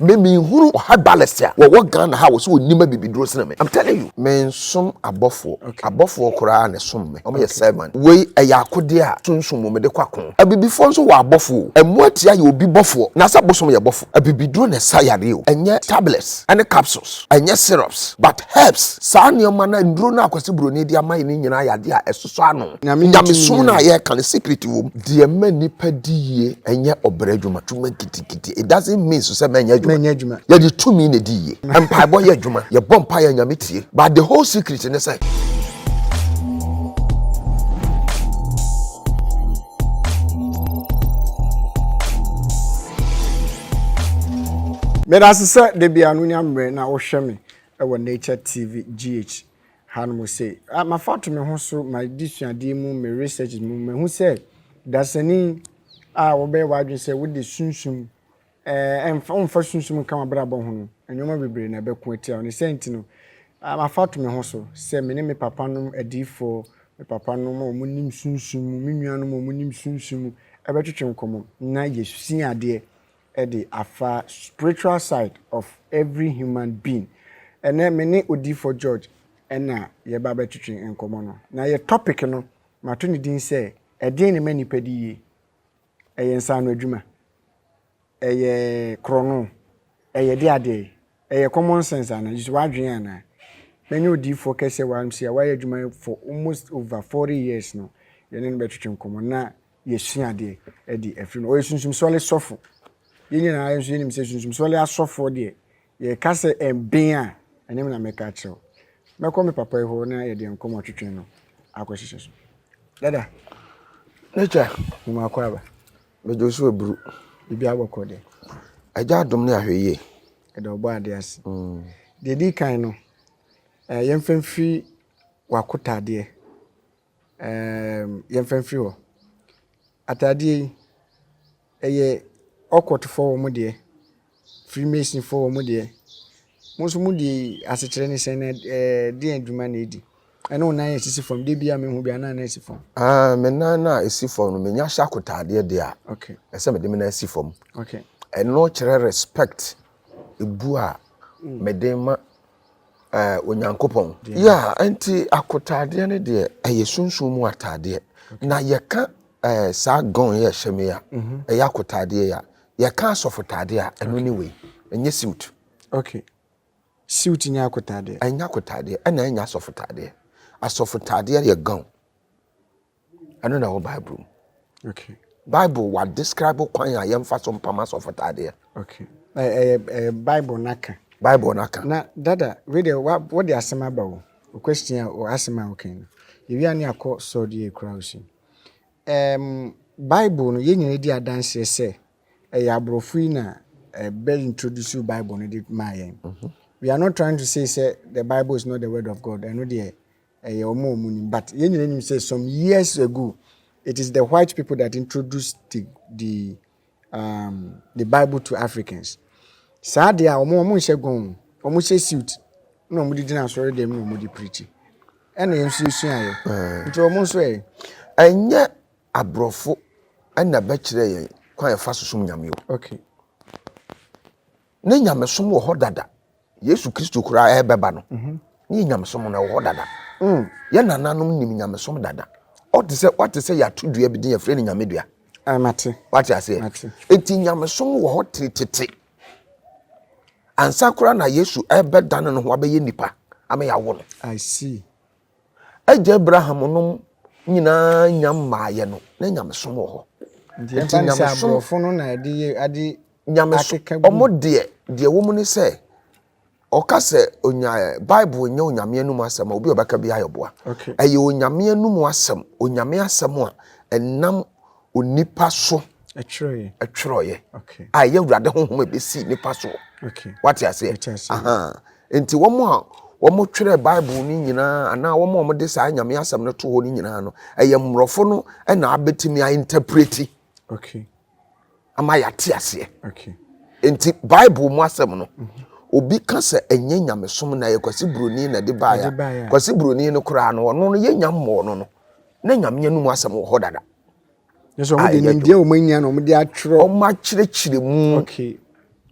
Me me nhunu ɔha balest a wɔwɔ Ghana ha wɔ sɛ ɔnim abibiduro sene me am telling you. Me nsom abɔfoɔ abɔfoɔ koraa na ɛsom me wɔn yɛ servant wei ɛyɛ akodeɛ a sunsum mu mede kɔ ako abibifoɔ nso wɔ abɔfoɔ o ɛmmoa atia yɛ obi bɔfoɔ na sɛ bosom yɛ bɔfo abibiduro na ɛsa yareɛ o ɛnyɛ tablets ɛne capsules ɛnyɛ syrups but herbs saa nneɛma no nnuro no a Kwasi Broni de ama yɛ no nyinaa yɛ adeɛ a ɛsosɔ ano Nyamesom no a yɛreka no secret wɔ mu deɛ ɛma nnipa di yie ɛnyɛ ɔbrɛ adwuma twuma nketenkete. It doesn't mean so sɛ mɛnyɛ adwuma. Mɛnyɛ adwuma. Yɛde tumi na edi yie. Mpaebɔ yɛ adwuma. Yɛbɔ mpae a Nyame tie. But the whole secret ne sɛ. Meda ase sɛ da biara no wonya mmerɛ na wohwɛ me wɔ Nature TV GH. Ha no mo se, ah, mafa ato me ho so, m'adesuadeɛ mu, me researches mu, mahu sɛ dasani a wɔbɛyɛ w'adwene sɛ wode sunsum, eh, mfa, womfa sunsum nka w'abrabɔ ho no, nneɛma bebree na ɛbɛko atia wo. Ne saa nti no, ah, mafa ato me ho so sɛ me ne me papa nom adiyifoɔ, me papa nom a wɔnim sunsum mu, me nua nom a wɔnim sunsum mu, ɛbɛtwetwe nkɔmmɔ na yɛasua adeɛ de afa spiritual side of every human being. Ɛnnɛ me ne Odiyifoɔ George na yɛreba abɛtwetwe nkɔmmɔ no. Na yɛ topic no mato ne din sɛ, Ɛdeɛn na ɛma nnipa di yie? Ɛyɛ nsaano adwuma? Ɛyɛ korɔno? Ɛyɛ de adeɛ? Ɛyɛ common sense anaa? Gyesɛ w'adwene anaa? Mɛnyɛ Odiyifoɔ kɛseɛ wɔ ha no, mese a wayɛ adwuma for almost over 40 years no, yɛne no bɛtwetwe nkɔmmɔ. Na Yɛsua adeɛ adi afiri mu. Ɔyɛ sunsum sɔle sɔfo. Yɛn nyinaa yɛn nso yɛnim sɛ sunsum sɔle asɔfoɔ deɛ yɛka sɛ ɛben a ɛne me na mɛka akyerɛ wo. Mɛkɔ me papa yi hɔ na yɛde nkɔmmɔ twetwe no akɔhyehyɛ so. Dada, N'agya, mema akɔ aba. Mede wo so aburu. Biribiara bɔkɔ deɛ? Agya adom ne ahwɛyie. Yɛda Ɔbɔadeɛ ase. Deɛ ɛdi kan no, yɛmfa mfiri w'akotadeɛ Ɛɛm, yɛmfa mfiri hɔ. Ataadeɛ yi, ɛyɛ ɔkɔtofoɔ wɔn deɛ, freemasonfoɔ wɔn deɛ. Mo nso mo deɛ yi, asekyerɛ ne sɛn na ɛɛ deɛn adwuma na ɛdi? Ɛne wo nan a ɛsisi fam, da biara mehu bi anan na ɛsi fam. Ah, me nan no a ɛsi fam no, menya hyɛ akotaadeɛ deɛ a, Okay, ɛsɛ mede me nan si fam. okay. Ɛno kyerɛ respect, ebu a mede ma Onyankopɔn. Yeah, nti akotaadeɛ no deɛ ɛyɛ sunsun mu ataadeɛ. Na yɛka ɛɛ saa gɔn yɛ ɛhyɛ mi a, mhm. ɛyɛ akotaadeɛ yɛ a, yɛka asɔfotaadeɛ a, ɛno ne wei, ɛnyɛ suit. Okay. Suit nyɛ akotaadeɛ. Ɛnyɛ akotaadeɛ, ɛna ɛnyɛ asɔfotaadeɛ. Asɔfotaadeɛ yɛ gɔn. ɛno na ɛwɔ bible mu okay. bible wa describe kwan a yɛmfa so mpam asɔfotaadeɛ okay. eh, eh, bible no aka bible no aka na dada wede wode asɛm aba o question a asɛm a wokan no yɛwia ne akɔ sɔdeɛ kura wo si um, bible no yɛn nyina di adanseɛ sɛ ɛyɛ aborɔfo yi na ɛbɛ introduce bible no de maa yɛn mhm. we are not trying to say sɛ the bible is not the word of god ɛno deɛ Ɛyɛ wɔn a wɔn nim but yɛn nyinaa nim sɛ some years ago it is the white people that introduced the the um, the bible to africans saa deɛ a wɔn wɔn nhyɛ gɔn wɔn hyɛ suit na wɔn de gyina asɔre dɛm na wɔn de preachi ɛna yɛn nso esua yɛ eh. nti wɔn nso yɛ. ɛnyɛ aborɔfo ɛna bɛkyerɛ yɛn kwan ɛfa so som nyame o okay ne nyamesom wɔ hɔ dada yesu kristo koraa ɛbɛba no mhm. ne yɛ nyamesom no ɛwɔ hɔ dada mm. yɛ nananom nim nyamesom dada ɔte sɛ wate sɛ yɛato dua bi din yɛfrɛ no nyame dua ah, wate aseɛ ɛti nyamesom wɔ hɔ tete ansa koraa na yesu ɛbɛdane no ho abɛyɛ nipa ama yɛawo no Agya Abraham nom nyinaa nya mmaeɛ no, na nyamesom wɔ hɔ. Nti ɛmfa ne sɛ aborɔfo no na ɛde yɛ ade akeka gu. Wɔn deɛ, deɛ ɛwɔ mu ne sɛ, ɔka sɛ onya Bible nyɛ onyame anum asɛm a obi a ɔbɛka bi ayɛ ɔboa. Ɛyɛ onyame anum asɛm, onyame asɛm a ɛnam onipa so twerɛeɛ a ɛyɛ awurade honhom a ɛbɛsii nipa soɔ wate aseɛ nti wɔn a wɔtwerɛ bible no nyinaa anaa wɔn a wɔde saa nyame asɛm no to hɔ no nyinaa no ɛyɛ mmorɔfo no na abɛtumi a interpreti ama yɛate aseɛ nti bible mu asɛm no mhm. obi ka sɛ ɛnyɛ nyamesom na ɛyɛ kwasi buroni na ɛde baeɛ kwasi buroni no koraa no ɔno no yɛnya mmɔɔ no no na Nyame anom asɛm wɔ hɔ dada. Nso wɔn de nimdeɛ wɔn anya na wɔn de atwerɛ. Wɔn akyerɛkyerɛ mu. Okay.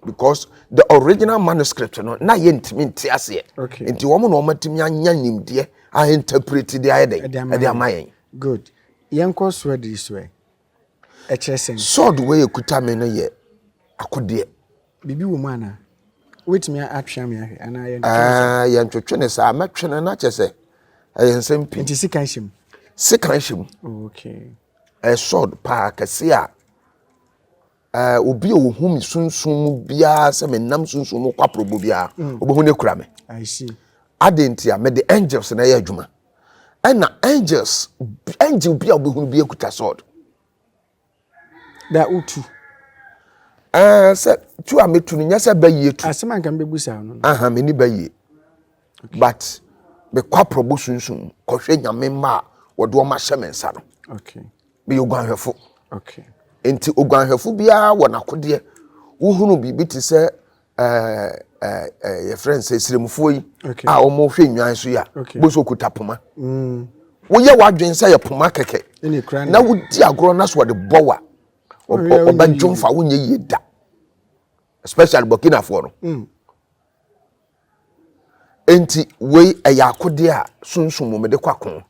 Because the original manuscript no na yɛ ntumi nte aseɛ. Okay. Nti wɔn na wɔn atumi anya nimdeɛ a interpret de ayɛ dɛ ɛde ama yɛn. Good. Yɛn kɔ soɛ de soɛ. ɛkyerɛ sɛn? Sword wei a ɛkuta me no yɛ akodeɛ. Biribi wɔ mu anaa? Wobɛtumi atwea me ahwɛ anaa yɛntwetwe no saa? Ɛɛ yɛntwetwe no saa, mɛtwe no na kyɛ sɛ ɛyɛ nsɛm pii. Nti sekan hyɛ mu? Sekan hyɛ mu. Oh, okay. Ɛyɛ sword paa kɛse a Ɛɛ, obi a ohu me sunsum mu biara sɛ menam sunsum mu kwaporɔbɔ biara, mm. obehu no kura me. I see. Adɛn nti a mede angels na ɛyɛ adwuma. Ɛna angels, angel bi a wobɛhunu bi akuta sword. Da wotu. Ɛɛ eh, sɛ tu a metu no nyɛ sɛ bɛyie tu. Asɛm anka mbɛbu saa no. Aha, meni bɛyie. But mekɔ aprɔbo sunsum kɔhwɛ nyame mma a wɔde wɔn ahyɛ me nsa no. Okay. meyɛ oguanhwɛfo. Okay. Nti oguanhwɛfo biara wɔ n'akodeɛ. Wohunu biribi te sɛ ɛɛ ɛɛ ɛɛ yɛfrɛ no sɛ siremfoɔ yi a wɔhwɛ nnwan so yi a bó so okuta poma. Mm. Woyɛ w'adwene sɛ yɛ poma kɛkɛ na wodi agorɔ na so ɔde bɔ wa ɔbɛdwo mfa wonyɛ yie da especially burkinafoɔ no. Mm. Nti wei ɛyɛ akodeɛ a sunsum mu mede kɔ ako.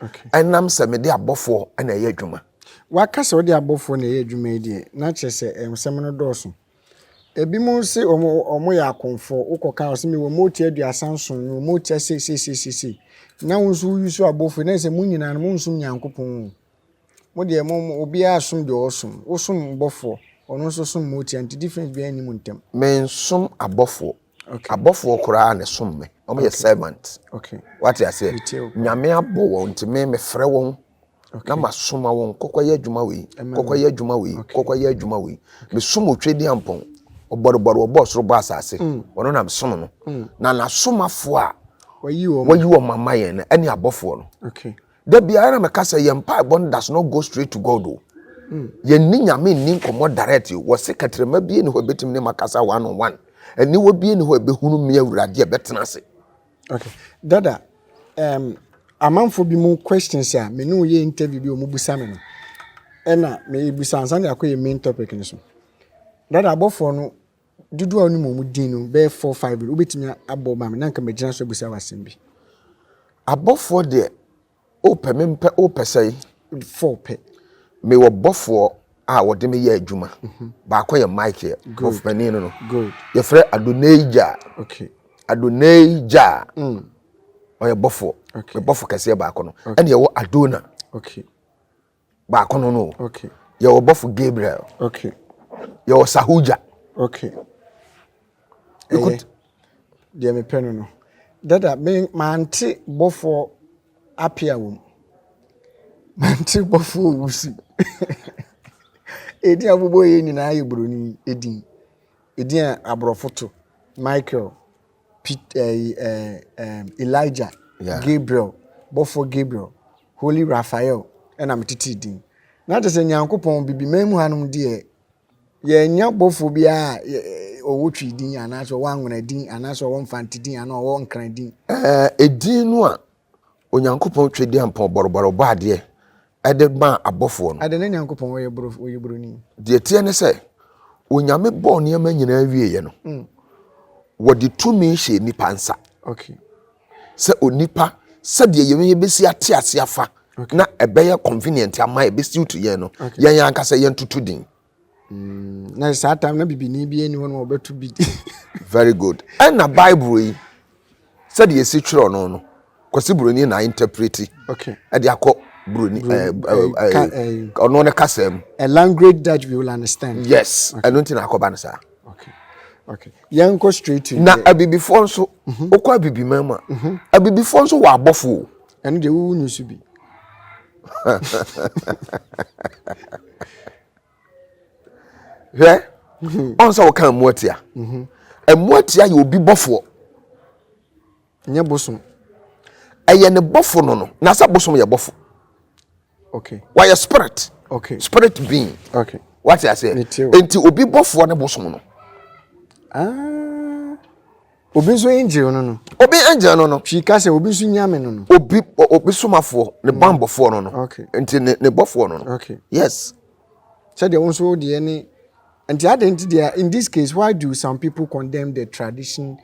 Okay. Ɛnam sɛ mede abɔfoɔ na ɛyɛ adwuma. Waka sɛ wode abɔfoɔ na ɛyɛ adwuma yi deɛ, na kyerɛ sɛ nsɛm no dɔɔso. Ebi mu se wɔn yɛ akonfoɔ, wokɔka wɔn sɛ mewɔ motia aduasa nson, mewɔ motia seiseiseisei. Na wo nso woyi so abɔfoɔ, na sɛ mo nyinaa no monsom Nyankopɔn o. Mo deɛ mo mo obiara som deɛ ɔsom. Wo som bɔfoɔ, ɔno nso som motia nti difference biara nni mo ntɛm. Me nsom abɔfoɔ. Okay. Abɔfoɔ koraa na ɛsom me. Wɔn okay. yɛ servant. Okay. Wate aseɛ? Nyame abɔ wɔn nti me mefrɛ wɔn. Okay. Na masoma wɔn kɔkɔ yɛ adwuma wei. Kɔkɔ yɛ adwuma wei. Okay. Kɔkɔ yɛ adwuma wei. Okay. Mesom otwe di ampɔn. Ɔbɔrobɔro ɔbɔ soro bɔ asase. Mm. Ɔno na mesom no. Mm. Na n'asomafoɔ a wɔyi wɔn ama yɛn no ɛne abɔfoɔ no. Okay. Da biara na meka sɛ yɛn mpaebɔ no does not go straight to God o. Yɛn ni nyame nni nkɔmmɔ direct o. Wɔ se kɛtrɛma bie ni hɔ ɛbɛtumi ne makasa one on one. Aniwa bie ni hɔ ɛbɛhunu me awurade ɛbɛtena ase. Okay. Dada, um, amanfo bi mu questions a me ne wo yɛ interview bi wɔn busa me no. Ɛna me busa ansa de akɔ yɛ main topic no so. Dada abɔfoɔ no dodoɔ a wonim wɔn din no bɛyɛ four five bi wobɛtumi abɔ ma me na nka mɛgyina so abisa w'asɛm bi. Abɔfoɔ deɛ wopɛ me mpɛ wopɛ sɛe. four pɛ. mewɔ bɔfoɔ a wɔde me yɛ adwuma mhm. baako yɛ Michael bɔfopanin no no yɛfrɛ Adonai Gyaa Adonai Gyaa mm. ɔyɛ bɔfoɔ me bɔfo kɛseɛ baako no ɛne ɛwɔ Adona baako no no o yɛwɔ bɔfo gabriel yɛwɔ sahuja okay ɛyɛ deɛ mepɛ no no dada me mante bɔfoɔ apia wɔ mu mante bɔfoɔ wusi ɛdin a wobɛbɔ yɛ nyinaa yɛ buroni ɛdin ɛdin a aborɔfo to michael Pit, eh, eh, eh, Elijah, yeah. Gabriel, bɔfoɔ Gabriel, Holy Raphael, ɛna metetee din. Na kyerɛ sɛ Nyankopɔn bibi man mu hanom deɛ yɛnya bɔfoɔ bi a ɔwɔ twi din anaasɛ ɔwɔ anwena din anaasɛ ɔwɔ mfante din anaa ɔwɔ nkran din. Ɛɛ, eh, edin no a Onyankopɔn Twedeampɔn bɔrobɔro bɔɔ adeɛ de maa abɔfoɔ no. Adɛn na Nyankopɔn yɛ boro, ɔyɛ boroni? Deɛ ɛteɛ ne sɛ, Onyame bɔɔ nneɛma nyinaa wieeɛ no, ɔde tumi hyɛɛ nnipa nsa. Okay. Sɛ onipa, sɛdeɛ yɛn yɛbɛsi ate ase afa na ɛbɛyɛ convenient ama yɛn, ɛbɛsuit yɛn no, yɛn ankasa yɛntoto din. Mm, na saa tam na bibini bi ni hɔ no wɔbɛto bi di. Very good. Ɛna Bible yi sɛdeɛ ɛsi twerɛ no no kwasi buroni na interpreti okay. ɛde akɔ buroni eh, eh, eh, ɔno ne kasa mu. A language that we will understand. Yes, ɛno nti na akɔba no saa. Okay. Okay. Yɛn kɔ straight to. Na abibifoɔ nso, mhm. wokɔ abibiman mu a, mhm. abibifoɔ nso wɔ abɔfo o. Ɛno deɛ wowu nyi so bi. hwɛ ɔn sɛ wɔka mmoatia mmoatia yɛ obi bɔfoɔ nyɛ bosom ɛyɛ ne bɔfo no no na sɛ bosom yɛ bɔfo okay wɔyɛ spirit okay spirit being okay wate aseɛ nti obi bɔfoɔ ne bosom no ah Obi nso angel no no. Obi angel no no. Pii ka sɛ obi nso nyame no no. Obi obi somafoɔ ne mm. bambɔfoɔ no no. Okay. Nti ne ne bɔfoɔ no no. Okay. Yes. Sɛdeɛ wɔn nso deɛ ne nti adan nti deɛ in this case why do some people condemn the tradition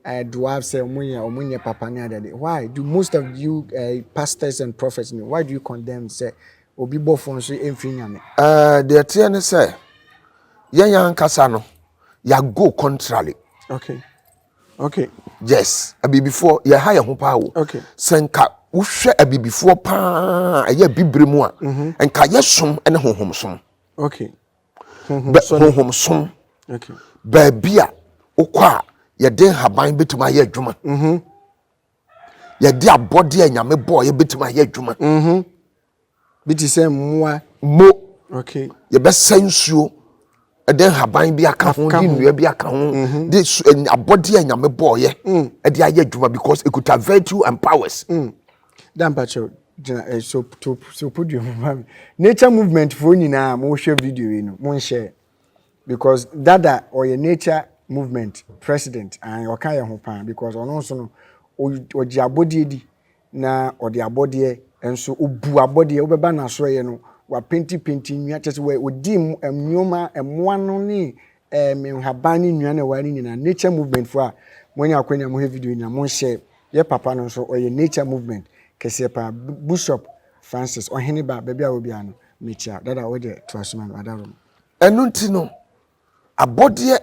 uh, dwarf sɛ wɔn yɛ wɔn nyɛ papa ne adade why do most of you uh, pastors and prophets no why do you condemn sɛ obi bɔfoɔ nso mfiri nyame. Ɛɛ eh, deɛ teɛ ne sɛ yɛn yɛn ankasa no. yà go contrary. okay okay. yes abibifoɔ yɛ ha yɛ ho paa o. okay sɛ nka wohwɛ abibifoɔ paa ɛyɛ bibire mu a. Mhm. nka yɛ som ɛne honhom som. okay honhom som. okay baabi a wokɔ a yɛde nhaban betumi ayɛ adwuma. Mhm. Yɛde abɔdeɛ a Nyame bɔɔ yɛbɛtumi ayɛ adwuma. Mhm. Bi te sɛ mmoa. Mo. Okay. Yɛbɛsɛ nsuo ɛde nhaban bi aka ho de nnua bi aka ho mhm. de abɔdeɛ a Nyame bɔɔ yɛ mm. ɛde ayɛ adwuma because ekuta virtue and powers. Mm. Dampakyɛw gyina eh, so to so podua mu ma me. Nature movement foɔ nyinaa mo hwɛ video yi no mo nhyɛ. Because dada ɔyɛ nature movement president and ɔka yɛ ho paa because ɔno nso no ɔgye abɔdeɛ di na ɔde abɔdeɛ nso ɔbu abɔdeɛ wobɛba no asoɛeɛ no wapenti penti nnua kyɛ sɛ ɔdi nneɛma mmoa no ne um, nhaban ne nnua no ɛwɔ ne nyinaa nature movement fo a moanya akwanya mo hɛ video nyinaa monhyɛ yɛ papa no nso ɔyɛ nature movement kɛseɛ paa Bishop Francis ɔhene ba baabi a wɔ biara no Mekyia dada wo deɛ to aso ma me adarom. Ɛno nti no abɔdeɛ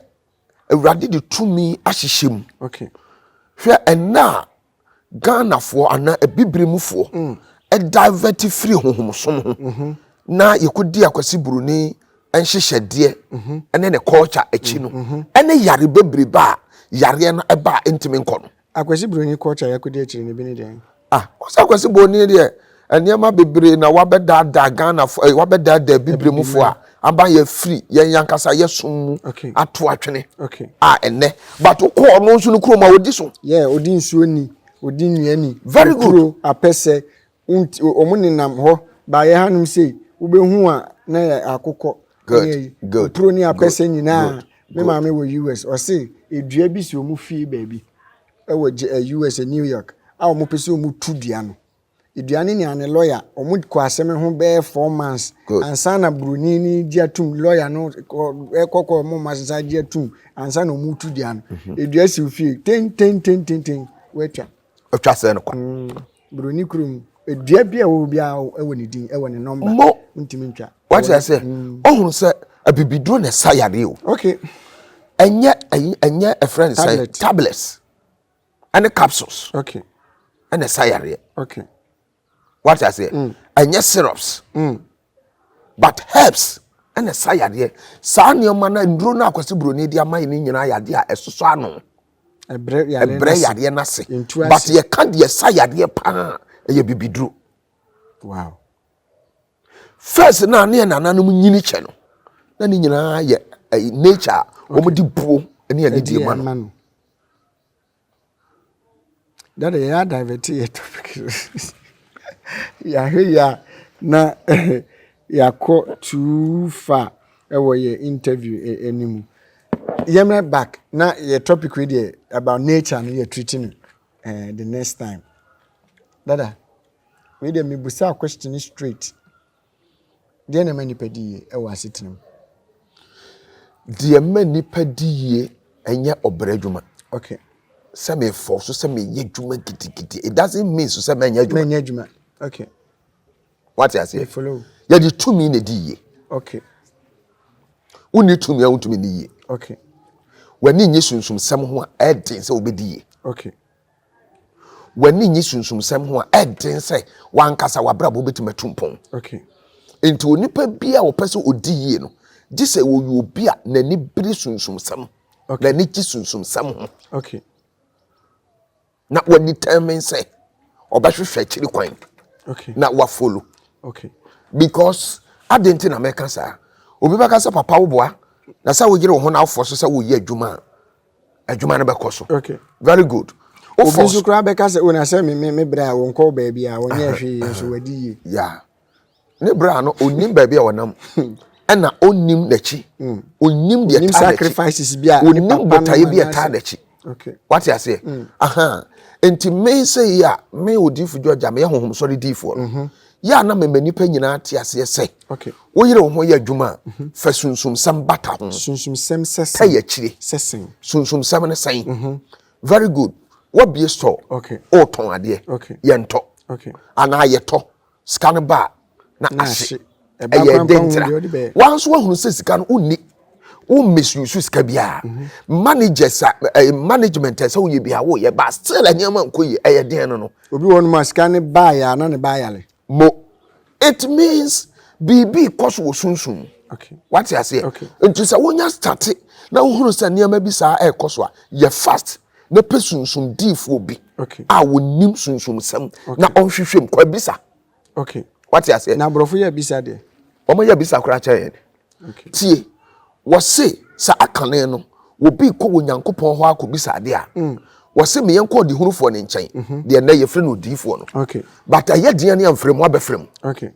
awurade de tumi ahyehyɛ mu okay. Hwɛ ɛnna a Ghanafoɔ anaa abibire mufoɔ mm. divert firi honhomsom ho mm -hmm. na yɛkɔdi akwasi buroni nhyehyɛdeɛ mm -hmm. ne ne culture akyi no mm -hmm. ɛne yare bebrebe a yareɛ no ɛba a ɛntumi nkɔ no Akwasi broni culture yɛ kodi akyiri no bi ne dɛn? Ah ɔsɛ akwasi broni deɛ nneɛma bebree na wabɛdaadaa Ghana fo eh, wabɛdaadaa bibire mu fo a aba yɛ firi yɛn yankasa yɛ som mu ato atwene a ɛnɛ but wokɔ ɔno nso no kurom a odi so. Yeah odi nsuo ni, odi nnua ni, very good, apɛsɛ. Nti wɔn nenam hɔ baeɛ hanom sei wobɛhu a na yɛ akokɔ ne mpuro ne apɛsɛ nyinaa me maame wɔ US ɔse edua bi si wɔn fie baabi ɛwɔ US New York a wɔn pɛ sɛ wɔn tu dua no edua no ne ane lɔya wɔn kɔ asɛm ho bɛyɛ four months ansa na buroni ne gye atum lɔya no ɛkɔkɔ wɔn mma sisa gye atum ansa na wɔn tu dua no edua si fie ten ten ten ten ten wɔatwa. Otwa sɛ no kwa. Mm, Buroni kurom, dua bi a ɛwɔ hɔ biara wɔ ne din, ɛwɔ ne nɔmba. Mo. Ntumi ntwa. Wate ase, mm. ohun sɛ abibiduro na ɛsa yareɛ o. Okay. Ɛnyɛ ɛnyɛ ɛfrɛ no sɛ tablets ɛne capsules. Okay. Ɛna ɛsa yareɛ. Okay. wate aseɛ mm. ɛnyɛ syrups mm. but herbs ɛna ɛsa yadeɛ saa nneɛma no nnuro no akwasi buroni de ama yɛ no nyinaa yadeɛ a ɛsosɔ ano ɛbrɛ yadeɛ no ase but yɛka deɛ ɛsa yadeɛ paa ɛyɛ bibiduro wow. first na ne yɛ nananom nyini kyɛ no na ne nyinaa yɛ nature a wɔn de buo ne yɛ ne deɛ ma no Daddy yɛ a divert yɛ topic no yɛahwɛ yie a na yɛakɔ too far wɔ yɛn interview no mu. Yɛmmra back na yɛn topic wei deɛ about nature no yɛ treat no eh, the next time. Dada, wei deɛ mebusaa question no straight. Deɛn na ɛma nnipa di yie wɔ asetena mu? Deɛ ɛma nnipa di yie ɛnyɛ ɔbrɛ adwuma. Okay. Sɛ mefɔ so sɛ meyɛ adwuma gidigidi. It doesn't mean so sɛ mɛnyɛ adwuma. Mɛnyɛ adwuma. Okay. Wate aseɛ? Follow. Yɛde tumi na di yie. Okay. Wonni tumi a wontumi ni yie. Okay. W'ani nye sunsumsɛm ho a ɛden sɛ wobɛdi yie. Okay. W'ani nnye sunsumsɛm ho a, ɛyɛ den sɛ w'ankasa w'abrabɔ betumi atu mpɔn. Enti onipa biara a ɔpɛ sɛ odi yie no, gye sɛ ɔyɛ obi a n'ani bere sunsumsɛm, n'ani gye sunsumsɛm ho, na ɔdetermine sɛ ɔbɛhwehwɛ akyiri kwan na wafolo. Because adɛn nti na mɛka saa? Obi bɛka sɛ, Papa wo boa, na sɛ woyere wo ho na wofɔ so sɛ woreyɛ adwuma a, adwuma no bɛkɔ so okay very good obi nso koraa bɛka sɛ o na sɛ me me me brɛ a wɔnkɔ baabi a wɔnyɛ hwee nso wadi yie yeah ne brɛ a no onim baabi a wɔnam ɛna onim n'akyi hmm. onim deɛ taa sacrifices bi a onim botaeɛ bi a taa n'akyi okay wate aseɛ hmm. aha nti me sɛ yi a me odifo dwa gya me yɛ honhom sɔre diifoɔ no mhm. Yɛ a na mema nnipa nyinaa te aseɛ sɛ, woyere wo ho yɛ adwuma a, fa sunsumsɛm bata ho. Sunsumsɛm sɛ sɛn? Pɛ akyire. Sɛ sɛn? Sunsumsɛm ne sɛn? Mhm. Very good. Wabie store. Okay. Wotɔn adeɛ. Okay. Yɛntɔ. Okay. Anaa yɛtɔ. Sika no ba a, na ahye. Ɛyɛ den tira. Wanso wahunu sɛ sika no wonni. wo misuse sika biara mhm. managers a eh, management ɛsɛ woyɛ bi a woyɛ ba still nneɛma nkɔ yie ɛyɛ den no no. obi wɔ nom a sika ne baa yɛ ana ne baa yale. mo it means biribi kɔ so wɔ sunsun mu wate aseɛ nti sɛ wonya state na wohunu sɛ nneɛma bi saa ɛrekɔ so a yɛ fast na pɛ sunsun diifoɔ bi a wɔnim sunsumsɛm na ɔnhwehwɛ mu kɔ abisa. okay wate aseɛ na aborɔfo yɛ bisa deɛ wɔn yɛ bisa koraa kyɛ yɛn okay tie wɔse saa kane no obi kɔ wɔ nyankopɔn hɔ akɔ bisa adeɛ a mm. wɔse meyɛ nkɔ ɔdehunufoɔ ne nkyɛn mhm. deɛ nnɛ yɛfrɛ no odiyifoɔ no okay but ɛyɛ deɛ ne amfrɛ mu abɛfrɛ mu okay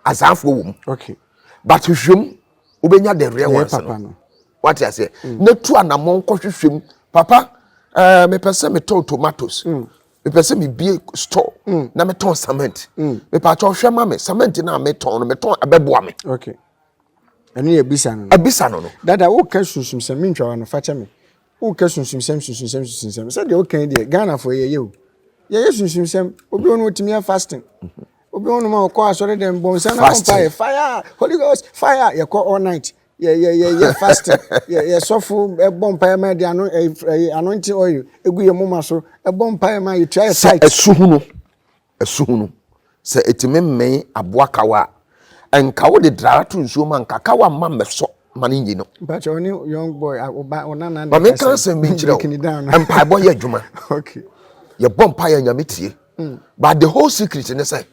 azaafoɔ wɔ mu okay but hwehwɛ mu wobɛnya the real ones no wate aseɛ mm. na tu anammɔn kɔhwehwɛ mu papa uh, mepɛ sɛ metɔn tomatoes mm. mepɛ sɛ mebie store mm. na metɔn cement mm. mepaakyɛ ɔhwɛ ma me cement no a metɔn no metɔn ɛbɛboa me okay. ɛno yɛ abisa no abisa no no dada woka sunsum sɛm mentwa wa no fa kyɛ me woka sunsum sɛm sunsum sɛm sunsum sɛm sɛdeɛ woka yi deɛ ghanafoɔ yɛyɛ o yɛyɛ sunsum sɛm obi ɔno ɔtumi yɛ fasting mhm. obi ɔno ma ɔkɔ asɔre dɛm bɔnsa na ɔmpa yɛ fire holy ghost fire yɛkɔ all night yɛ yɛ yɛ yɛ fasting yɛ yɛ sɔfo ɛbɔ mpaeɛ ma yɛde ano ɛyi ɛyi anointing oil egu yɛn moma so ɛbɔ mpaeɛ ma yɛtua yɛ sɛ tithe ɛsu hunu ɛsu hunu sɛ ɛtumi mmɛn aboa kawa a nka wode draa to nsuo ma nka kawa mma mmɛsɔ ma no nyi no mpakyɛ ɔne young boy a ɔba ɔnana ne ma menka kasa asɛm bi nkyerɛ break ne down wo mpaebɔ yɛ adwuma okay yɛbɔ mpaeɛ a nyame tie but the whole secret ne sɛ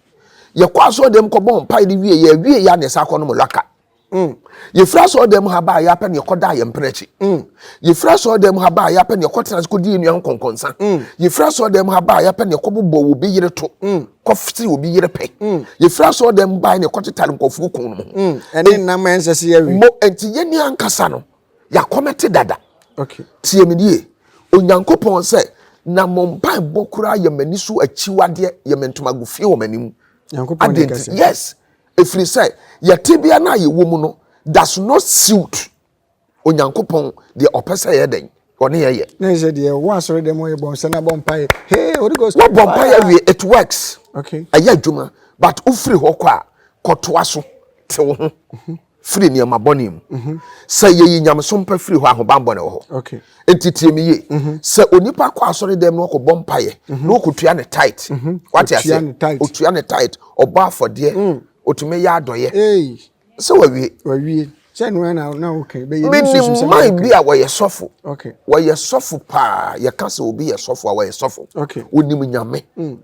yɛkɔ asɔre dɛm kɔbɔ mpaeɛ de wie yɛ awie yɛ a na yɛsa akɔ nom laka Mm. Yɛfiri asɔɔdan mu ha baa yɛ apɛ ne yɛkɔdaa yɛn mpena akyi. Mm. Yɛfiri asɔɔdan mu ha baa yɛ apɛ ne yɛkɔtena ase kɔdi yɛn nua ho kɔnkɔnsa. Mm. Yɛfiri asɔɔdan mu ha baa yɛ apɛ ne yɛkɔbobɔ obi yere to. Mm. Kɔfiri obi yere pɛ. Mm. Yɛfiri asɔɔdan mu baa ne yɛkɔtetare nkɔfoɔ kun no ho. Mm. Ɛne nam a ɛnsɛ sɛ yɛwe. Mo nti yɛn ni ankasa no yɛakɔmɛte dada. Okay. Tie me die. Onyankopɔn sɛ na mo mpaebɔ koraa yɛ m'ani so akyiwadeɛ yɛ me ntomago fie wɔ m'anim. Nyankopɔn ne kɛse. Yes. Ɛfiri sɛ yɛn tebea no a yɛwɔ mu no does not suit Onyankopɔn deɛ ɔpɛ sɛ yɛyɛ dɛn ɔne yɛn yɛ. Na ɛsɛ deɛ wɔ asɔre dɛm ɔyɛ bɔ nsa na bɔ mpaeɛ hey Holy Ghost. Wɔ bɔ mpaeɛ wie it works. Okay. Ɛyɛ adwuma but wofiri hɔ kɔ a kɔtoa so te wo ho firi nneɛma bɔne mu. Mhm. Sɛ yɛyi nyamesom pa firi hɔ ahobanbɔ na ɛwɔ hɔ. Okay. Enti tie me yie. Mhm. Sɛ onipa kɔ asɔre dɛm na ɔkɔbɔ mpaeɛ mhm. na ɔkɔtua ne tight. Mhm. Wate aseɛ? Ɔtua ne tight. Ɔbɔ afɔdeɛ. Mm. Ɔtumi yɛ adɔyɛ. Sɛ wawie. Wawie. Sɛ no na na okay. Bɛyɛ ne susu sɛ na okay. bi a wɔyɛ sɔfo. Okay. Wɔyɛ sɔfo paa. Yɛka sɛ obi yɛ sɔfo a wɔyɛ sɔfo. Okay. Onim nyame. Mm.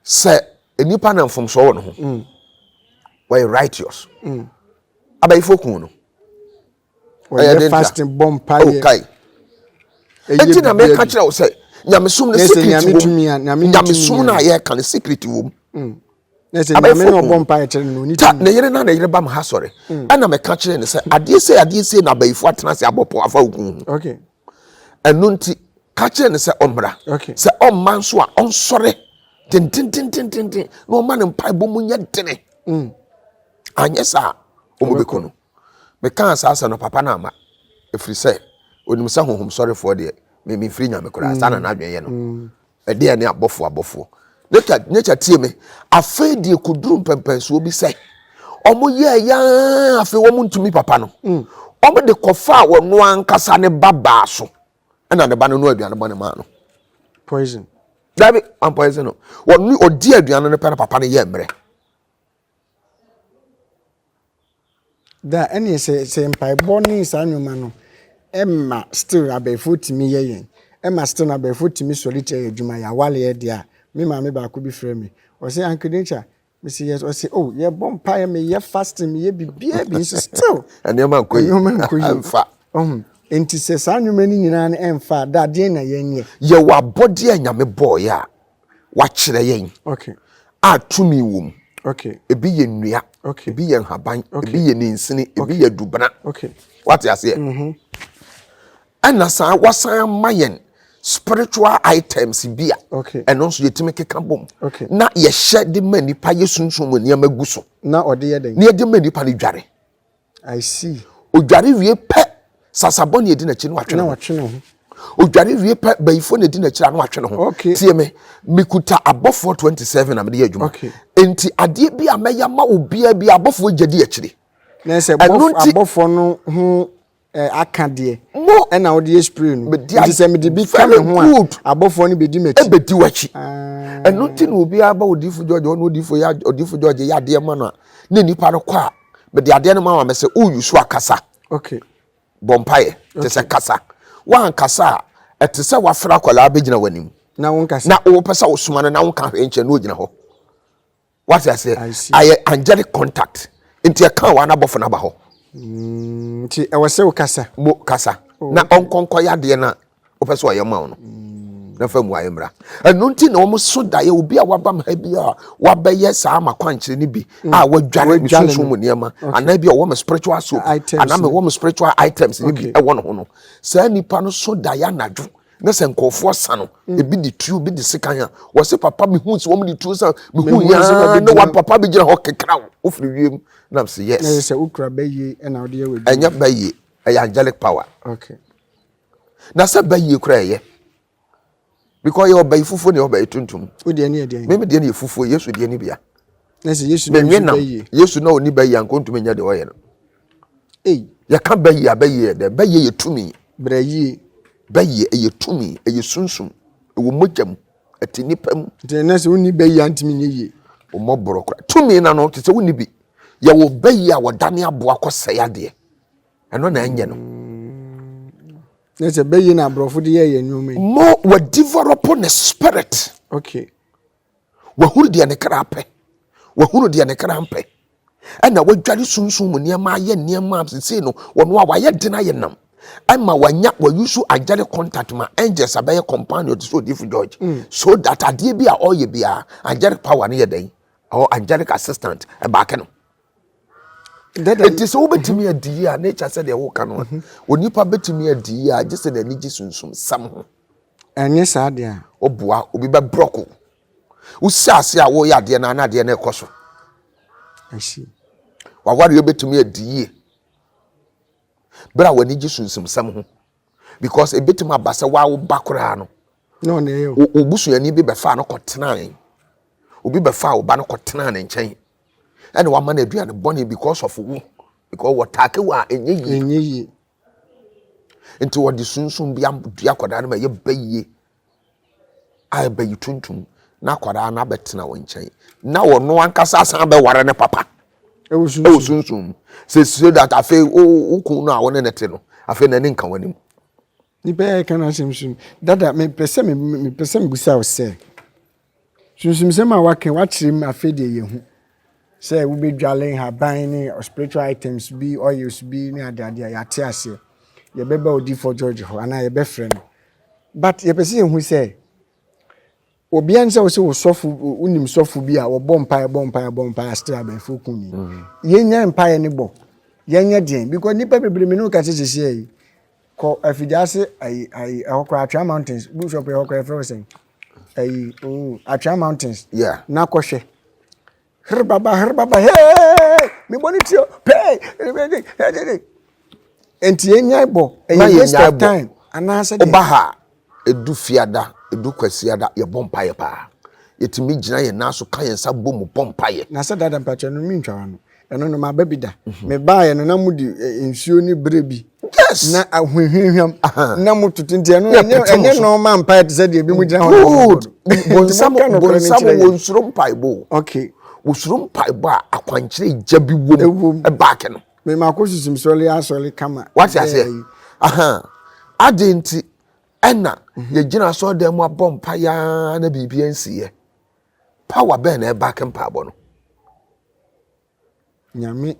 Sɛ nipa na mfomsoɔ wɔ ne ho. Mm. Wɔyɛ righteous. Mm. Abayifo kun no. ɔyɛ fasting bɔ mpaeɛ ɛti na meka kyerɛ wo sɛ nyamesom no secret wom nyamesom no a yɛka no secret wom ta ne yere na ne yere ba m ha sɔre mm. ɛna meka kyerɛ ne sɛ adeɛ sɛ adeɛ sɛ na abayifo atena ase abɔpɔ afa wo kun ho ɛno nti ka kyerɛ ne sɛ ɔmmra sɛ ɔmma nso a ɔnsɔre tentententententen na ɔma ne mpaebɔ mu nyɛ dene mm. anyɛ saa ɔmɔbɛkɔ no Mekaa saa asɛm no, papa no amma, ɛfiri sɛ ɔnim sɛ honhomsɔrefoɔ deɛ, me, memfiri Nyame koraa. Saa na n'adwene yɛ no. Ɛdeɛ ne abɔfoɔ abɔfoɔ. Nature, nature tie me. Afei deɛ kɔduru mpɛmpɛnsoɔ bi sɛ, wɔn yɛɛ yaa afei wɔn ntumi papa no. Wɔn de kɔfaa wɔn ankasa ne ba baa so. Ɛna ne ba no no aduane bɔne maa no. Poison. Dabi, wɔn poison no. Wɔn, ɔdi aduane no pɛ na papa no yɛ mmerɛ. Daa ɛneɛ sɛ sɛ mpaebɔ ne saa nnoɔma no ɛma still abɛɛfoɔ tumi yɛ yɛn ɛma still abɛɛfoɔ tumi sɔre tia yɛn adwuma yɛn awareɛ deɛ a me maame baako bi frɛ me ɔse Ankedenkya mese yes ɔse oh yɛbɔ mpaeɛ meyɛ fasting meyɛ biribiara bi nso still nnoɔma nkɔ yie nnoɔma nkɔ yie ɛmfa ɔho nti sɛ saa nnoɔma no nyinaa no ɛmfa a daa deɛ na yɛnyɛ yɛwɔ abɔdeɛ a nyame bɔɔyɛ a wakyerɛ yɛn a tumi wɔ mu. Ebi yɛ nnua, ebi yɛ nhaban, ebi yɛ ninsini, ebi yɛ dubena. Wate aseɛ? Mm-hmm. Ɛna saa wasan ama yɛn spiritual items bi a ɛno nso yɛtumi keka bom na yɛhyɛ de ma nipa yɛ sunsun mu nneɛma gu so na yɛde ma nipa no dware. I see. Odware wie pɛ, sasabɔ na edi n'akyi na watwe ne ho. Na watwe ne ho. Odware wie pɛ, bayifo na edi n'akyi na watwe ne ho. Okay. Tie me, mekuta abɔfoɔ 27 na mede yɛ adwuma. Okay. Enti adeɛ bi a mɛyɛ ama obiara bi abɔfoɔ gya di akyire. Na sɛ abɔfoɔ no ho eh, aka deɛ mo ɛna wode yɛ spray no nti sɛ mede bi ka me ho a abɔfoɔ no bɛdi m'akyi ɛbɛdi w'akyi ah. ɛno nti na obiara ba ɔdifo george ɔne ɔdifo yɛ ɔdifo george yɛ adeɛ ma no a na nipa no kɔ a mede adeɛ no ma wa mɛ sɛ woyi so akasa okay bɔ mpaeɛ te sɛ kasa woankasa a ɛte sɛ woafra akwadaa bɛgyina w'anim na wopɛ sɛ wosoma no na wonka hwee nkyɛ na ɔgyina hɔ Wate aseɛ? I see. Ayɛ angelic contact. Nti ɛka wa n'abɔfo n'aba hɔ. Mm, nti ɛwɔ sɛ wokasa. Mo kasa. Oh, na okay. ɔnkɔ nkɔyɛ adeɛ na wopɛ sɛ ɔyɛ ma wo no. Mm. Na fa mu ayɛ mmra. Ɛno nti na wɔn so daeɛ obi a wabam ha bi a wabɛyɛ saa ma kwankyerɛ no bi mm. a wadware ne sunsun mu nneɛma anaa bi a ɔwɔ me spiritual soap anaa mewɔ me spiritual items no bi ɛwɔ ne ho no. Saa nipa no so daeɛ anadwo. na sɛ nkurɔfoɔ asa no mm. ebi de tuo bi de sekan a wɔsi papa mi hu si wɔn de tuo san mi hu yaa ne wa papa bi gyina hɔ kekra o ofiri wiem na si yes. ɛyɛ sɛ okura bɛyie ɛna ɔde yɛ wɔ adwuma ɛnyɛ bɛyie ɛyɛ angelic power okay. na sɛ bɛyie kura ɛyɛ because yɛ ɔbɛyi fufuo ne ɔbɛyi tuntum o deɛ ne yɛ deɛ mímu deɛ ne yɛ fufuo yesu deɛ ne bia na sɛ yesu na ɔni bɛyie yesu na ɔni bɛyie anko ntumi nyɛ deɛ ɔyɛ no Ei, yɛka bɛyɛ a, bɛyɛ yɛ dɛ. Bɛyɛ yɛ tumi. Brɛ yie. Bɛyɛ ɛyɛ tumi, ɛyɛ sunsum, ɛwɔ mogya mu, ɛte nipa mu. Nti ɛnɛ sɛ wonni bɛyɛ a ntumi nyɛ yie. Ɔmmɔ borɔ kora. Tumi na no te sɛ wonni bi. Yɛwɔ bɛyɛ a wɔdane aboa kɔ sɛe adeɛ. Ɛno na ɛnyɛ no. Na sɛ bɛyɛ na aborɔfo de yɛ yɛ nneɛma yi. Mo wɔ develop ne spirit. Okay. Wahunu deɛ ne kra pɛ. Wahunu deɛ ne kra mpɛ. Ɛna wadware sunsun mu nneɛma ayɛ nneɛma a sesei no wɔn a wayɛ den ayɛ nam. Ɛma wanya wayusu angelic contact ma angels abɛyɛ companion te sɛ odifo George. Mm. So that adeɛ bi a ɔyɛ biara angelic power no yɛ dɛn? Or angelic assistant ɛbaake no. Eti sɛ wobɛtumi mhm. adi yie a na ɛkyɛ sɛdeɛ woka no a mhm. onipa bɛtumi adi yie a gye sɛ n'ani gye sunsum sam ho ɛnyɛ saa deɛ a ɔboa obi bɛbrɔko wosi ase a woyɛ adeɛ no ana adeɛ no ɛkɔ so wawareɛ bɛtumi adi yie berɛ a w'ani gye sunsum sam ho because ɛbɛtumi aba sɛ waa wo ba koraa no wobusuani bi bɛfaa no kɔtenaa obi bɛfaa wo ba no kɔtenaa ne nkyɛn ɛna wama no aduane bɔne because of wo because wɔtaake wo a ɛnyɛ yie ɛnyɛ yie nti wɔde sunsun bi adua akwadaa no ma ɛyɛ ba yie a ɛba yi tuntum na akwadaa no abɛtena wɔn nkyɛn na wɔn ankasa asan abɛware ne papa ɛwɔ sunsun sɛ so that afei wo kun no a wɔne ne te no afei n'ani nka wɔn anim. Nnipa yi a yɛka no asɛm so no, dada mepɛ sɛ mepɛ sɛ mebisa wo sɛ, sunsumsɛm a waka wakyerɛ mu afei deɛ yɛhu sɛ wobɛdwale nhaban ne spiritual items bi oils bi ne adeade a yɛate aseɛ yɛbɛba odifoɔ george hɔ anaa yɛbɛfrɛ no but yɛpɛ sɛ yɛhu sɛ Obia ne sɛ wose wo sɔfo wonim sɔfo bi a wɔbɔ mpaeɛ bɔ mpaeɛ bɔ mpaeɛ astere abɛɛfo ku ni yɛnya mpaeɛ ne bɔ yɛnyɛ deɛn because nipa bebree me ne woka sɛ sɛsiɛ yi kɔ afigya ase ayi ayi ɛhɔ koraa atwea mountains bishop ɛhɔ koraa ɛfrɛ wo sɛn ayi oo atwea mountains yeah. na kɔhwɛ Herbaba, herbaba, hey! Me bɔ ne ti o, pay! Nti yɛn nya bɔ, ɛyɛ waste of time. Anaasɛ deɛ. Ɔba ha, edu fiada, edu kwasiada, yɛ bɔ mpaeɛ paa. Yɛtumi gyina yɛn nan so ka yɛn nsa bɔ mu bɔ mpaeɛ. Na sɛ dada mpakyɛ no mi ntwa wa no, ɛno no ma ba bi da. Me baa yɛ no na mo di eh, nsuo ne bere bi. Yes. Na ahwehwehwam. Na mo tutu nti ɛno ɛnyɛ ɛnyɛ nɔɔma mpae te sɛ deɛ ebi mo gyina hɔ. Good. Bonsam bonsam wɔn soro mpaebɔ. Okay. Wosoro mpaebɔ a akwankyerɛ gya bi wom. Ɛbaake no. Mɛ ma akɔ susu sɔle asɔle kama. Wate aseɛ. Ahan. Adi nti ɛna mhm. yɛgyina asɔre dan mu abɔ mpa yaa na biribi nsiiɛ. Power bɛn na ɛbaake mpaebɔ no. Nyame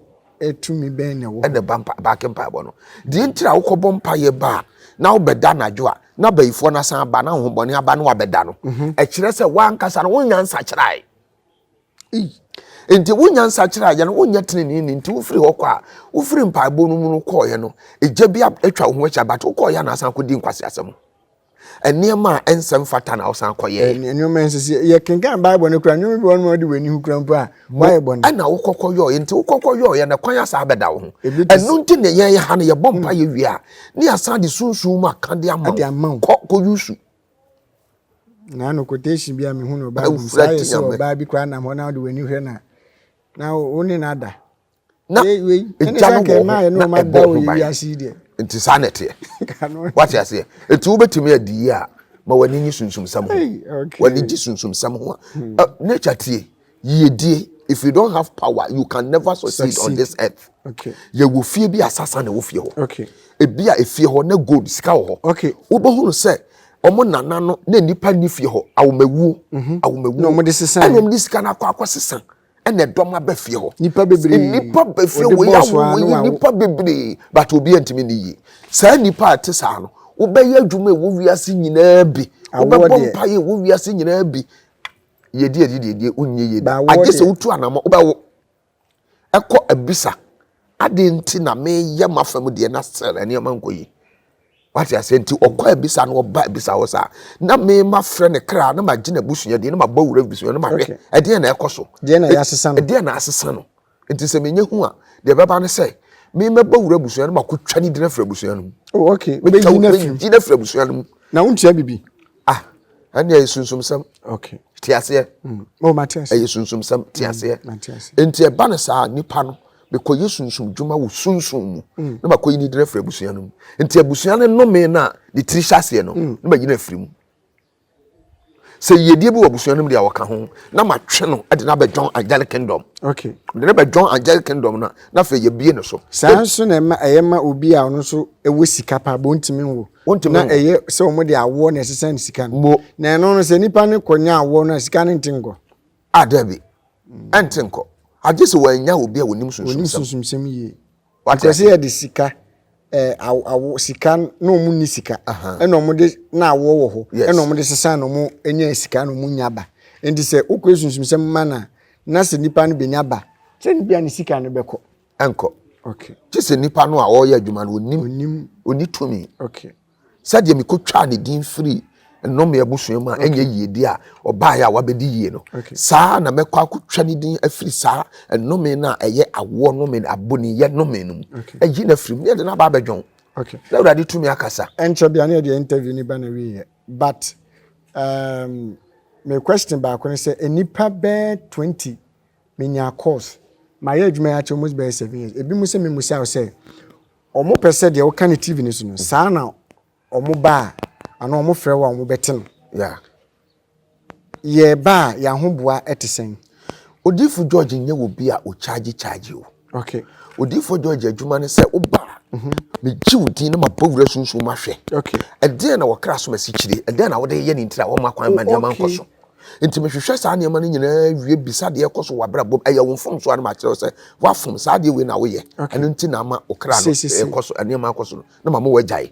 tumi bɛn na ɛwɔ hɔ? Ɛna ɛba mpa baake mpaebɔ no. Deɛ nti a wokɔbɔ mpaeɛ ba a na wobɛda anadwo a na bayifoɔ no asan aba na ahohombɔne aba na wabɛda no, mhm. ɛkyerɛ sɛ woankasa no wonya nsakyerae. Nti wonya nsakyerae yɛ no wonyɛ tenenee ni nti wofiri hɔ kɔ a wofiri mpaebɔ no mu no kɔɔeɛ no egya bi atwa wo ho ahyia but wokɔɔeɛ a na asan akɔdi nkwaseasɛm. Nneɛma a ɛnsɛ mfata na ɔsan kɔyɛ. Nneɛma ɛnsɛ sɛ yɛkenkan Bible no kura nneɛma bi wɔn mu de w'ani ho kura mpo a wayɛ bɔne. Ɛna wokɔkɔ yɔɔyɛ nti wokɔkɔ yɔɔyɛ na kwan asa abɛda wo ho. Ɛno nti na yɛn ha no yɛbɔ mpa yɛ wie a ne yɛasan de sunsun mu aka de ama wo. Kɔ kɔ yusu. Na no quotation bi a mehu no Bible mu saa yɛ sɛ ɔbaa bi koraa nam hɔ na wode w'ani hwɛ na na wo ne no ada. na egya no wɔ hɔ na ɛbɔ ho ban nti saa na ɛteɛ wate aseɛ ɛti wobɛtumi adi yi a ma w'ani nye sunsumsɛm ho w'ani gye sunsumsɛm ho a hmm. uh, nature tie yiedie if you don't have power you can never succeed, succeed. on this earth okay. yɛwɔ fie bi a sasa na ɛwɔ fie hɔ okay. ebi a efie hɔ na gold sika wɔ hɔ okay. wobɛhunu sɛ wɔn nana no na nipa ni fie hɔ awomawuo mhm. awomawuo ɛna wɔn de sika no akɔ akɔ sisan. ɛna ɛdɔm aba fie hɔ nipa bebree nipa ba fie wɔ yɛ awo yi nipa bebree but obi ntumi ne yie saa nipa a te saa no wobɛyɛ adwuma ɛwɔ wiase nyinaa bi wobɛbɔ mpa yɛ ɛwɔ wiase nyinaa bi yɛdi adi deɛ deɛ wonyɛ yie da agye sɛ wotu anamɔ wobɛwo ɛkɔ abisa ade nti na meyɛ m'afam deɛ na sɛ nneɛma nkɔ yi wate aseɛ nti ɔkɔ abisa na ɔba abisa hɔ saa na me ma frɛ ne kra na magye n'abusua deɛ na mabɔ wura abusua na mahwɛ Okay. ɛdeɛ na ɛkɔ so Deɛ na yɛasesa no. ɛdeɛ na asesa no nti sɛ menyɛ hu a deɛ ɛbɛba ne sɛ me mɛbɔ wura abusua no makɔtwa ne din afiri abusua no mu Oh, okay. metwa Wobɛyi wo no afiri mu. din afiri abusua no mu Na wontua bibi. ah ɛnneɛ ɛyɛ sunsumsɛm Okay. te aseɛ Oh, mate ase. ɛyɛ sunsumsɛm te aseɛ Mate ase. nti ɛba no saa nipa no Mekɔyɛ sunsum dwuma wɔ sunsum mu na makɔyi ne din afiri abusua no mu. Nti abusua no nnome no a ne tiri hyɛ aseɛ no, na mayi no afiri mu. Sɛ yiedie bi wɔ abusua no mu deɛ a ɔka ho, na matwe no de no abɛdwɔn angelic kingdom. Okay. Mede no bɛdwɔn angelic kingdom no a, na afei yɛbie no so. Saa nso na ɛma ɛyɛ ma obi a ɔno nso ɛwɔ sika paa bɔ ntumi nwo. Ɔntumi nwo. Na ɛyɛ sɛ wɔn de awoɔ na ɛsesa ne sika no. Mo. Na ɛno no sɛ nipa no kɔnya awoɔ no a sika no nte nkɔ. Ah, dabi. Ɛnte nkɔ. Agye sɛ wannya obi a onim sunsumsɛm. Onim sunsumsɛm yie. Wate ase? Because yɛde sika eh, awo, awo, sika na wɔn ni sika ɛna wɔn de na awoɔ wɔ hɔ ɛna wɔn de sesa na wɔn nya sika na wɔn nya ba nti sɛ wokɔ esunsumsɛm ma na na sɛ nipa no benya ba sɛ ne bia ne sika no bɛkɔ ɛnkɔ okay gye sɛ nipa no a ɔreyɛ adwuma no onim onim oni tumi okay sɛdeɛ mekɔtwaa ne din firii nnome abusua mu a ɛnyɛ yiedie a ɔbaeɛ a wabɛdi yie no, saa na mɛkɔ akɔtwa ne din afiri saa nnome no a ɛyɛ awoɔ nnome, aboniyɛ nnome no mu, ayi no afiri mu, na yɛde no aba abɛdwa wo. Okay. Na Awurade tumi akasa. Ɛnkyɛ bia na yɛde interview ni ba na wiyɛ. But um, me question baako ne sɛ nnipa bɛɛ 20 menya course mayɛ adwuma yɛ akyɛ almost bɛyɛ 7 years. Ebi mu sɛ me musa sɛ Wɔn pɛ sɛ deɛ woka no TV no so no saa na wɔn ba a anaa wɔn frɛ wo a wɔn bɛte no. Yeah. Yɛ ba a yɛn ahoboa ɛte sɛn? Odiyifo George nyɛ wɔ bi a ɔkyaagye kyaagye o. Okay. Odiyifo George adwuma ne sɛ woba a, mhm. megye wo din na mabɔ wura sunsun mahwɛ. Okay. Ɛdeɛn na wɔkra so masikyire? Ɛdeɛn na wode yɛ ne ntira wɔn akwan ma nneɛma nkɔ so? Nti mehwehwɛ saa nneɛma no nyinaa wie bisa deɛ ɛkɔ so wɔ abrabɔ mu ɛyɛ wo mfomso a na makyerɛ wo sɛ woafom saa adeɛ wei na woyɛ ɛno nti na ama wo kra no ɛkɔ so nneɛma akɔ so no na mama woagyae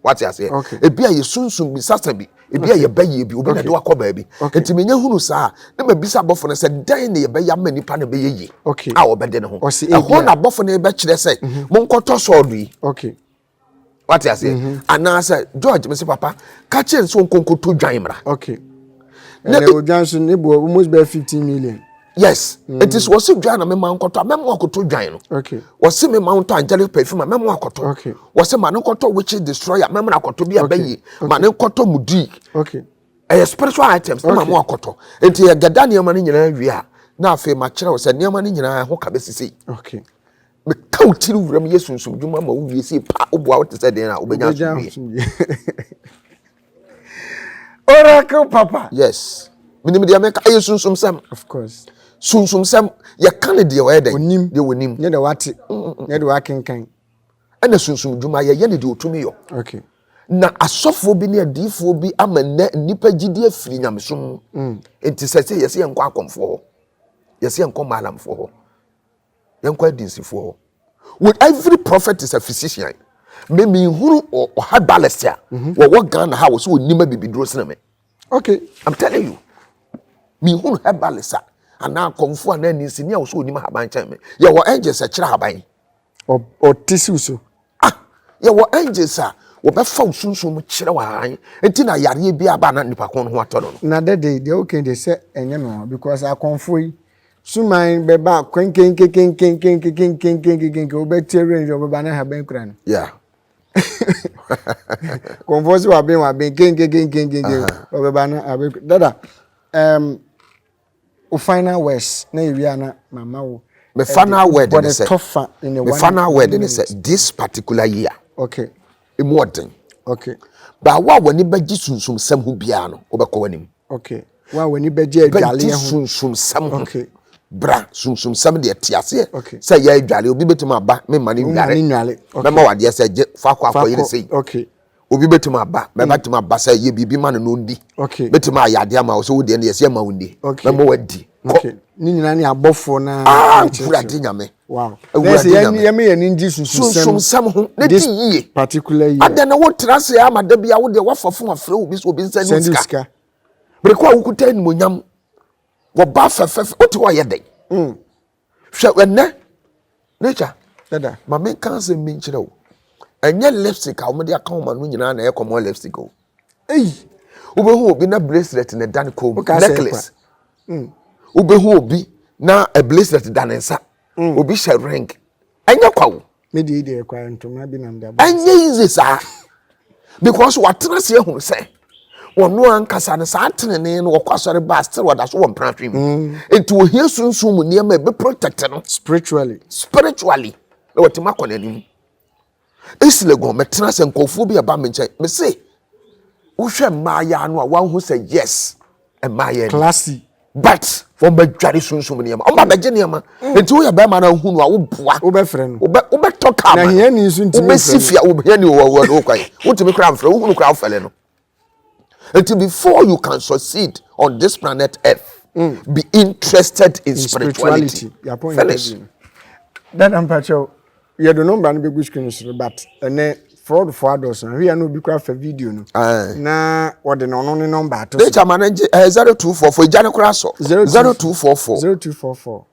wate aseɛ ebi a yɛ sunsum bi sasa bi ebi a yɛbɛyɛ bi obi na de wakɔ baabi nti menya hunu saa na mabisa abɔfo no sɛ dɛn na yɛbɛyɛ ama nipa no bɛyɛ yie a wɔbɛde ne ho ɛhɔ na abɔfo no bɛkyerɛ sɛ monkɔtɔ sɔɔdo yi wate aseɛ mhm. anaasɛ george mese papa ka kyerɛ ne sɛ ɔnkɔnkɔto dwan mmra odwan so ne boɔ almost bɛɛ fifteen million yes mm. nti sɛ wɔse dwan na mema nkɔtɔ a mɛma akɔtɔ dwan no wɔse mema ntɔ angelic perfume a mɛma akɔtɔ wɔse ma ne nkɔtɔ witches destroyer mɛma akɔtɔ bi a bɛyie ma ne nkɔtɔ mudi ɛyɛ spiritual items na ma mo akɔtɔ nti yɛgɛda nneɛma no nyinaa wie a na afei makyerɛ wo sɛ nneɛma no nyinaa ho ka bɛsisi Meka wo tiri wuram yɛ sunsum dwuma ma wo wie sei paa woboa wo te sɛ den a wobɛnya asomdwie. Oracle papa. Yes. Menim deɛ meka ɛyɛ sunsum sɛm. Of course. Sunsum sɛm yɛka ne deɛ ɔyɛ dɛn. Onim. Deɛ onim. Ne deɛ wate. Mm, mm, mm. Ne deɛ wakenkan. Ɛna sunsum dwuma yɛyɛ ne deɛ otumi yɔ. Okay. na asɔfoɔ bi ne adiifoɔ bi ama nnɛ nnipa gyidi afiri nyamesom mu mm. nti sɛ sɛ yɛsɛ yɛnkɔ akɔmfoɔ hɔ yɛsɛ yɛnkɔ maalamfoɔ hɔ yɛnkɔ adinsifoɔ hɔ with every prophet is a physician me me hunu ɔha balest a wɔwɔ ghana ha wɔ sɛ ɔnim abibiduro sene me okay i'm telling you me hunu ha balest a anaa kɔmfo anaa ninsini a wɔ sɛ ɔnim ahaban kyɛn me yɛwɔ angels a kyerɛ ahaban ɔte siw so ah yɛwɔ angels a wɔbɛfa wo sunsun mu kyerɛ wɔ ahan nti na yareɛ bi aba na nipa ko no ho atɔ no no na dɛde deɛ wokan deɛ sɛ ɛnyɛ no because akɔmfoɔ yi suman bɛba kwenkenkenken wobɛte awura nhwɛ ɔbɛba na haban kura no yeah kɔnfoɔ sɛ waben waben kenkenkenkenkenken ɔbɛba na haban kura dada um, wo final words na yɛwie a na mama wo me final word ne sɛ me final word ne sɛ this particular year okay mu ɔden. Okay. Ba wo a w'ani bɛgye sunsumsɛm ho biara no, wobɛkɔ w'anim. Okay. Wo a w'ani bɛgye adwaleɛ ho. Bɛgye sunsumsɛm ho. Okay. Bra sunsumsɛm deɛ te aseɛ. Okay. Sɛ yɛ adwaleɛ obi bɛtumi aba me ma ne nware. Wo ma ne nware. Okay. Mɛma wadeɛ sɛ gye faako akɔ yere sei. Okay. Obi bɛtumi aba mɛba mm. tumi aba sɛ yɛ biribi ma no na ɔndi. Okay. Bɛtumi ayɛ adeɛ ama wo sɛ wodeɛ no yɛsɛ ma wo ndi. Okay. Mɛma wadi. Okay. Ne nyinaa ne abɔfoɔ no. Ah, Awurade Nyame. Wow. Awurade na yɛn yɛn yɛn ani gye sunsunsɛm ho ne ti yie. Particular year. Adan na wo tra se ama da bia wo de wafa fun afre wo bi so obi nsa ni sika. Bere ko a wo kuta ni monyam. Wo ba fefef o te wa ye den. Mm. Hwɛ ɛnɛ nature. Dada. Ma me kan se me nkyerɛ wo. Ɛnyɛ lipstick a wɔde aka wɔn ano nyinaa na ɛyɛ common lipstick o. Ei! Wobɛhu obi na bracelet na ɛda ne kɔn mu, necklace. Mm. Wobɛhu obi na a bracelet da ne nsa. Mm. Obi hyɛ ring. Ɛnyɛ kwa o. Me deɛ deɛ kwa ntoma bi nam de abɔ. Ɛnyɛ easy saa. Because watena ase ahunu sɛ wɔno ankasa no saa tenenee no wɔkɔ asɔre baa still wɔda so wɔ mprantwe mu. Mm. Enti wɔhia sunsun mu nneɛma a ɛbɛ protect no. Spiritually. Spiritually. Na wɔtumi akɔ n'anim. Esi Legon, mɛtena sɛ nkurɔfoɔ bi a ɛba me nkyɛn. Mese, wohwɛ mmaayaa no a, woahu sɛ yes, mmaayaa ni. Classy. But wɔbɛdware sunsum nneɛma. Wɔba bɛgye nneɛma. Enti woyɛ barima no a wohu no a, woboa. Wobɛfrɛ no. Wobɛ wobɛtɔ kaa ma no. Na hiani nso ntumi mfrɛ no. Wobɛsi fie a, hiani wɔ wɔ wɔ kwan. Wotumi koraa mfrɛ, wohu no koraa wofɛle no. Nti before you can succeed on this planet earth, mm. be interested in, in spirituality. spirituality. Finish. Dada mpakyɛw, yɛde nɔmba no bɛgu screen so but ɛnɛ fraud fo adɔso na hwia no obi kora fa video no na wɔde na ɔno ne nɔmba ato so. Data ma no gye ɛyɛ zero two four four egya no kora so zero two four four zero two four four.